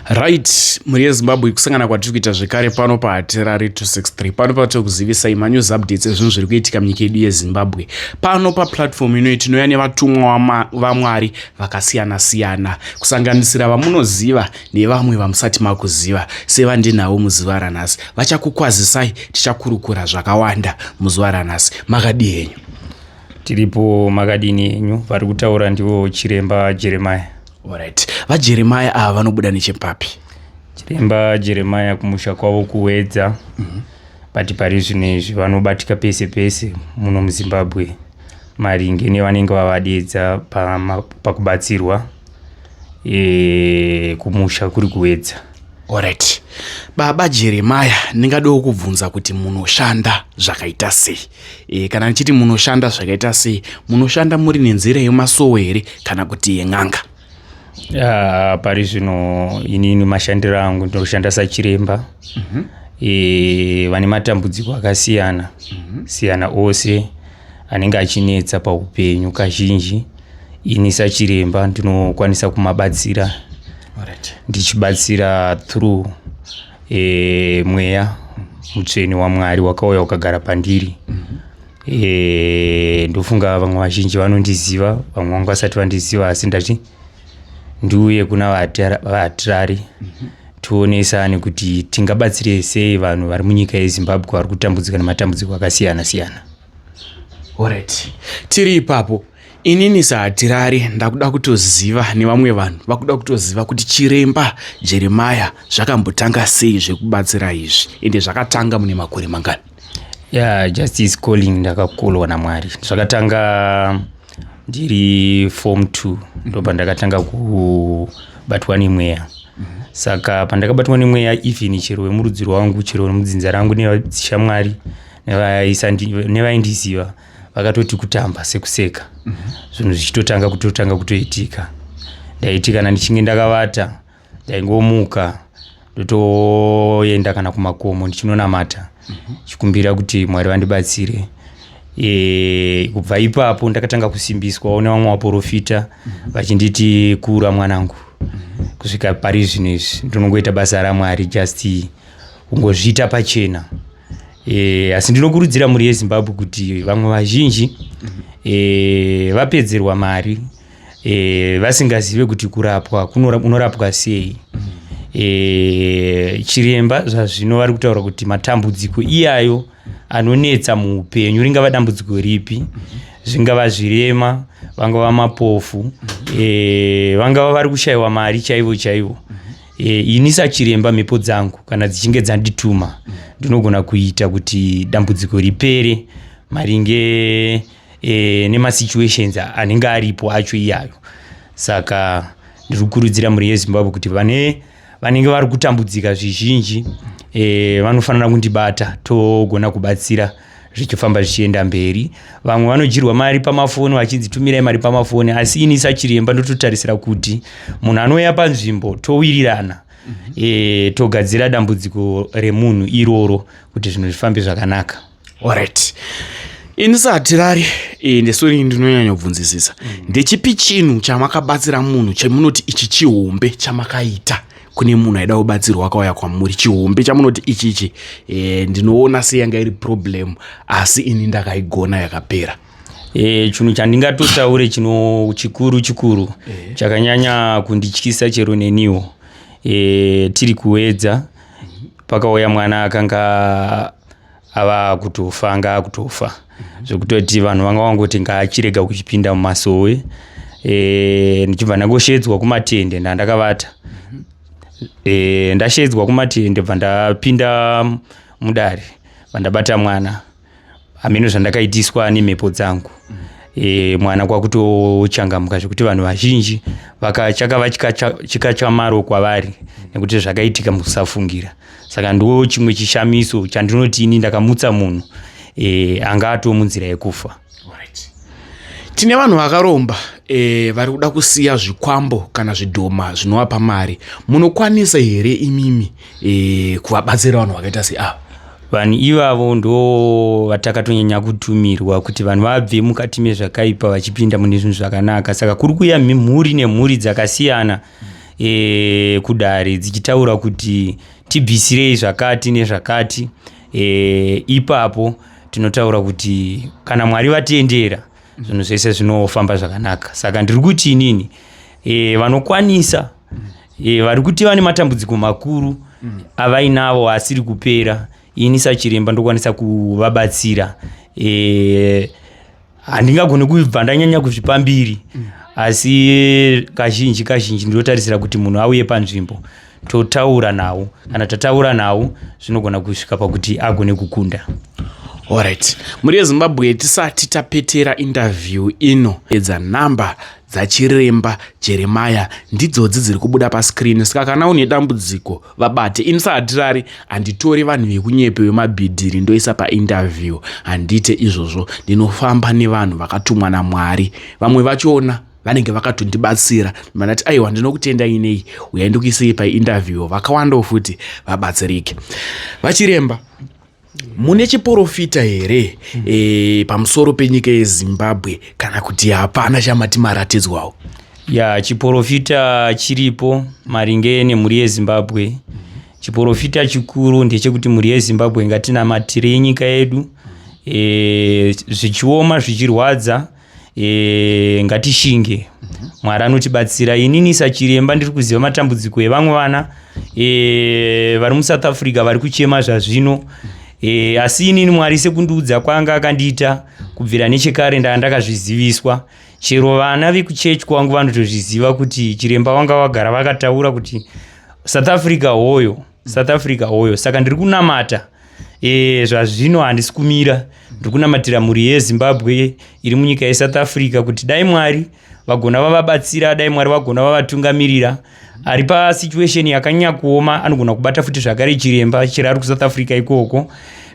Right, mhuri yeZimbabwe kusangana kwatiri kuita zvekare pano pahatirari 263 pano patiri kuzivisai manews updates ezvinhu zviri kuitika munyika yedu yeZimbabwe pano paplatform inoyi tinouya nevatumwa vaMwari vakasiyana siyana kusanganisira vamunoziva nevamwe vamusati makuziva sevandinavo muzuva ranhasi vachakukwazisai tichakurukura zvakawanda muzuva ranhasi makadi henyu tiripo makadini henyu vari kutaura ndiwo chiremba Jeremiah Alright. VaJeremiah ava vanobuda nechepapi? Chiremba Jeremiah kumusha kwavo kuwedza. Mm -hmm. But pari zvino izvi vanobatika pese pese muno muZimbabwe maringe nevanenge vavadedza pakubatsirwa pa e, kumusha kuri kuwedza. Alright. Baba Jeremiah ndingadawo kubvunza kuti munoshanda zvakaita sei? e, kana ndichiti munoshanda zvakaita sei munoshanda muri nenzira yemasowe here kana kuti yen'anga uh, pari zvino inini mashandiro angu ndinoshanda sachiremba mm -hmm. e, vane matambudziko akasiyana mm -hmm. siyana ose anenge achinetsa paupenyu kazhinji ini sachiremba ndinokwanisa kumabatsira ndichibatsira through e, mweya mutsvene wamwari wakauya ukagara pandiri e, ndofunga vamwe vazhinji vanondiziva vamwe vangu vasati vandiziva asi ndati ndiuye kuna vatirari tionesane kuti tingabatsire sei vanhu vari munyika yezimbabwe vari kutambudzika nematambudziko akasiyana siyana orit tiri ipapo Inini sahatirari ndakuda kutoziva nevamwe vanhu vakuda kutoziva kuti chiremba jeremaya zvakambotanga sei zvekubatsira izvi ende zvakatanga mune makore mangani yeah, just is calling ndakakolwa namwari zvakatanga ndiri form t ndo pandakatanga kubatwa nemweya saka pandakabatwa nemweya even chero vemurudziro wangu chero mudzinza rangu nevashamwari nevaindiziva vakatoti kutamba sekuseka mhm. zvinhu zvichitotanga kutotanga kutoitika ndaiti kana ndichinge ndakavata ndaingomuka ndotoenda kana kumakomo ndichinonamata mhm. chikumbira kuti mwari vandibatsire e, kubva ipapo ndakatanga kusimbiswawo nevamwe vaporofita mhm. vachinditi kura mwanangu mhm. kusvika pari zvino izvi ndinongoita basa ramwari just kungozviita pachena e, asi ndinokurudzira mhuri yezimbabwe kuti vamwe vazhinji e, vapedzerwa mari e, vasingazive kuti kurapwa unorapwa sei e, chiremba zvazvino vari kutaura kuti matambudziko iyayo anonetsa muupenyu ringava dambudziko ripi zvingava zvirema vangava mapofu e, vangava vari kushayiwa mari chaivo chaivo mm -hmm. E, ini sachiremba mhepo dzangu kana dzichinge dzandituma ndinogona kuita kuti dambudziko ripere maringe e, nemasituations anenge aripo acho iyayo saka ndiri kukurudzira mhuri yezimbabwe kuti vane vanenge vari kutambudzika zvizhinji e, vanofanira kundibata togona kubatsira zvichifamba zvichienda mberi vamwe vanodyirwa mari pamafoni vachinzi tumirai mari pamafoni asi ini sachiremba ndototarisira kuti munhu anouya panzvimbo towirirana mm -hmm. e, togadzira dambudziko remunhu iroro kuti zvinhu zvifambe zvakanaka orit ini sahatirari e, ndesori ndinonyanya kubvunzisisa mm. ndechipi chinhu chamakabatsira munhu chemunoti ichi chihombe chamakaita kune munhu aida kubatsirwa akauya kwamuri chihombe chamunoti ichi ichi e, ndinoona seyanga iri problem asi ini ndakaigona yakapera e, chinhu chandingatotaure chino chikuru chikuru e. chakanyanya kundityisa chero neniwo e, tiri kuedza pakauya mwana akanga ava akutofa anga akutofa mhm. zvekutoti vanhu vanga vangoti ngaachirega kuchipinda mumasowe e, ndichibva ndangosheedzwa kumatende ndandakavata mhm. e, ndasheedzwa kumatende bva ndapinda mudare vandabata mwana hameno zvandakaitiswa nemhepo dzangu mm -hmm e, mwana kwakutochangamuka zvekuti vanhu vazhinji chakava chikachamaro kwavari nekuti zvakaitika mukusafungira saka ndo chimwe chishamiso chandinoti ini ndakamutsa munhu e, anga atoo munzira yekufa tine vanhu vakaromba e, vari kuda kusiya zvikwambo kana zvidhoma zvinovapa mari munokwanisa here imimi e, kuvabatsira vanhu vakaita seava vanhu ivavo ndo vatakatonyanya kutumirwa kuti vanhu vabve mukati mezvakaipa vachipinda mune zvinhu zvakanaka saka kuri kuya mhuri nemhuri dzakasiyana e, kudare dzichitaura kuti tibvisirei zvakati nezvakati e, ipapo tinotaura kuti kana mwari vatendera zvinhu zvese zvinofamba zvakanaka saka ndiri kuti inini e, vanokwanisa e, vari kuti vane matambudziko makuru mm. avainavo asiri kupera ini sachiremba ndokwanisa kuvabatsira e, handingagoni kubva ndanyanya kuzvipa mbiri mm. asi kazhinji kazhinji ndinotarisira kuti munhu auye panzvimbo totaura nawo kana tataura nawo zvinogona kusvika pakuti agone kukunda orit mhuri yezimbabwe tisati tapetera interview ino edza number dzachiremba jeremaya ndidzodzi dziri kubuda pascreen saka kana une dambudziko vabate ini sahatirari handitori vanhu vekunyepe wemabhidhiri ndoisa painterview handiite izvozvo ndinofamba nevanhu vakatumwa namwari vamwe vachona vanenge vakatondibatsira vanati aiwa ndinokutendai nei uyai ndikuisei painterview vakawandawo futi vabatsirike vachiremba mune chiporofita here mm. e, pamusoro penyika yezimbabwe kana kuti hapana chamati maratidzwawo ya chiporofita chiripo maringe nemhuri yezimbabwe mm. chiporofita chikuru ndechekuti mhuri yezimbabwe ngatinamatire yenyika yedu e, zvichioma zvichirwadza mm. e, ngatishinge mhm. mwari anotibatsira inini sachiremba ndiri kuziva matambudziko evamwe vana e, vari musouth africa vari kuchema zvazvino e, asi inini mwari sekundiudza kwanga akandiita kubvira nechekare ndanga ndakazviziviswa chero vana vekuchechi kwangu vanotozviziva kuti chiremba vanga vagara vakataura kuti south africa hoyo south africa hoyo saka ndiri kunamata e, zvazvino handisi kumira ndikunamatira mhuri yezimbabwe iri munyika yesouth africa kuti dai mwari vagona vavabatsira dai mwari vagona vavatungamirira ari pasituation yakanyanya kuoma anogona kubata futi zvakare chiremba chero ari kusouth africa ikoko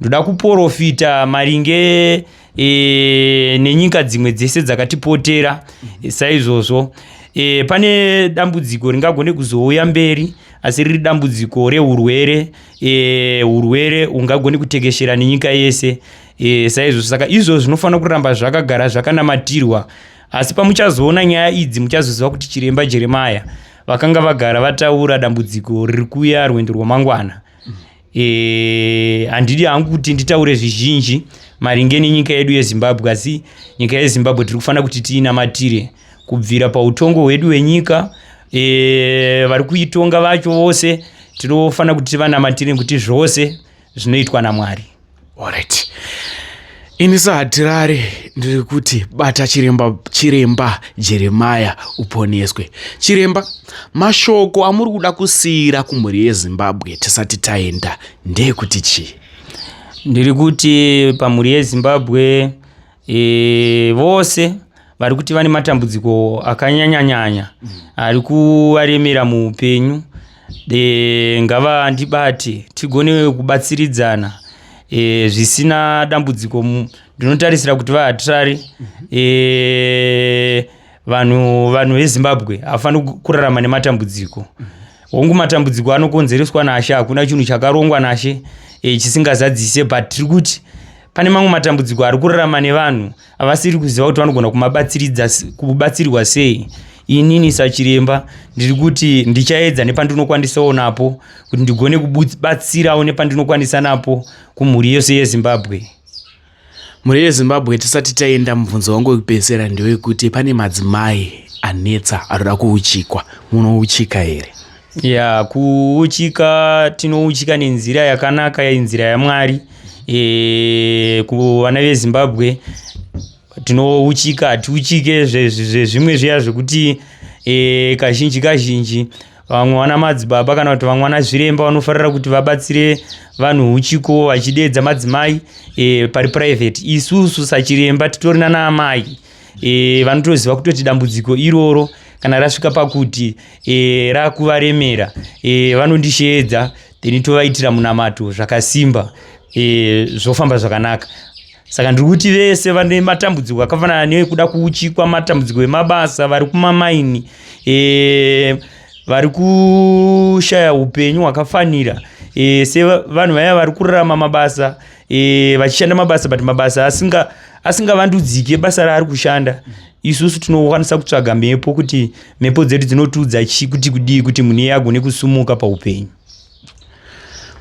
ndoda kuporofita maringe e, nenyika dzimwe dzese dzakatipotera e, saizvozvo e, pane dambudziko ringagone kuzouya mberi asi riri dambudziko reurwere e, urwere ungagoni kutekeshera nenyika yese e, saizvozvo saka izvo zvinofanira kuramba zvakagara zvakanamatirwa asi pamuchazoona nyaya idzi muchazoziva kuti chiremba jeremaya vakanga vagara vataura dambudziko riri kuya rwendo rwamangwana e, handidi hangu kuti nditaure zvizhinji maringe nenyika yedu yezimbabwe asi nyika yezimbabwe tiri kufanira kuti tiinamatire kubvira pautongo hwedu hwenyika e, vari kuitonga vacho vose tinofanira kuti tivanamatire kuti zvose zvinoitwa namwari alright ini sahatirari ndiri kuti bata chiremba chiremba jeremaya uponeswe chiremba mashoko amuri kuda kusiyira kumhuri yezimbabwe tisati taenda ndeyekuti chii ndiri kuti pamhuri yezimbabwe e, vose vari kuti vane matambudziko akanyanyanyanya mm. ari kuvaremera muupenyu e, ngavandibate tigone kubatsiridzana e, zvisina dambudziko ndinotarisira kuti vahatirari mm -hmm. e, vanhu vanhu vezimbabwe havafaniri kurarama nematambudziko mm -hmm. hongu matambudziko anokonzereswa nashe hakuna chinhu chakarongwa nashe e, chisingazadzise but tiri kuti pane mamwe matambudziko ari kurarama nevanhu avasiri kuziva kuti vanogona kubatsirwa sei inini sachiremba ndiri kuti ndichaedza nepandinokwanisawo napo kuti ndigone kubatsirawo nepandinokwanisa napo kumhuri yose yezimbabwe Mhuri yeZimbabwe tisati taenda mubvunzo wangu wekupedzisira ndewekuti pane madzimai anetsa anoda kuuchikwa munouchika here? Ya kuuchika tinouchika nenzira yakanaka inzira yaMwari e, kuvana veZimbabwe tinouchika hatiuchike zvezvimwe zviya zvekuti e, kazhinji kazhinji vamwe vana madzibaba kana kuti vamwe vana zviremba vanofarira kuti vabatsire vanhu uchiko vachideedza madzimai e, pari private isusu sachiremba titori nana amai e, vanotoziva kutoti dambudziko iroro kana rasvika pakuti e, rakuvaremera e, vanondisheedza then tovaitira munamato zvakasimba e, zvofamba zvakanaka saka ndiri kuti vese vane matambudziko akafanana neekuda kuuchikwa matambudziko emabasa vari kumamaini e, vari kushaya upenyu hwakafanira e, sevanhu vaya vari kurarama mabasa e, vachishanda mabasa but mabasa asinga asingavandudzike basa raari kushanda isusu tinokwanisa kutsvaga mhepo kuti mhepo dzedu dzinotiudza chii kuti kudii kuti munhu iye agone kusumuka paupenyu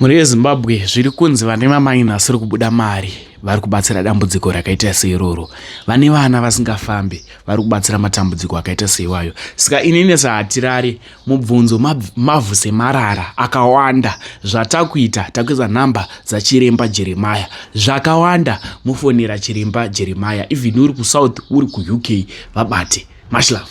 Mhuri yeZimbabwe zviri kunzi vane vamaina vasiri kubuda mari vari kubatsira dambudziko rakaita seiroro. Vane vana vasingafambi vari kubatsira matambudziko akaita seiwayo. Saka inini sahatirari mubvunzo mavhu semarara akawanda zvatakuita takuisa nhamba dzachiremba Jeremaya zvakawanda mufonera chiremba Jeremaya even uri kuSouth uri kuUK vabate. Much love.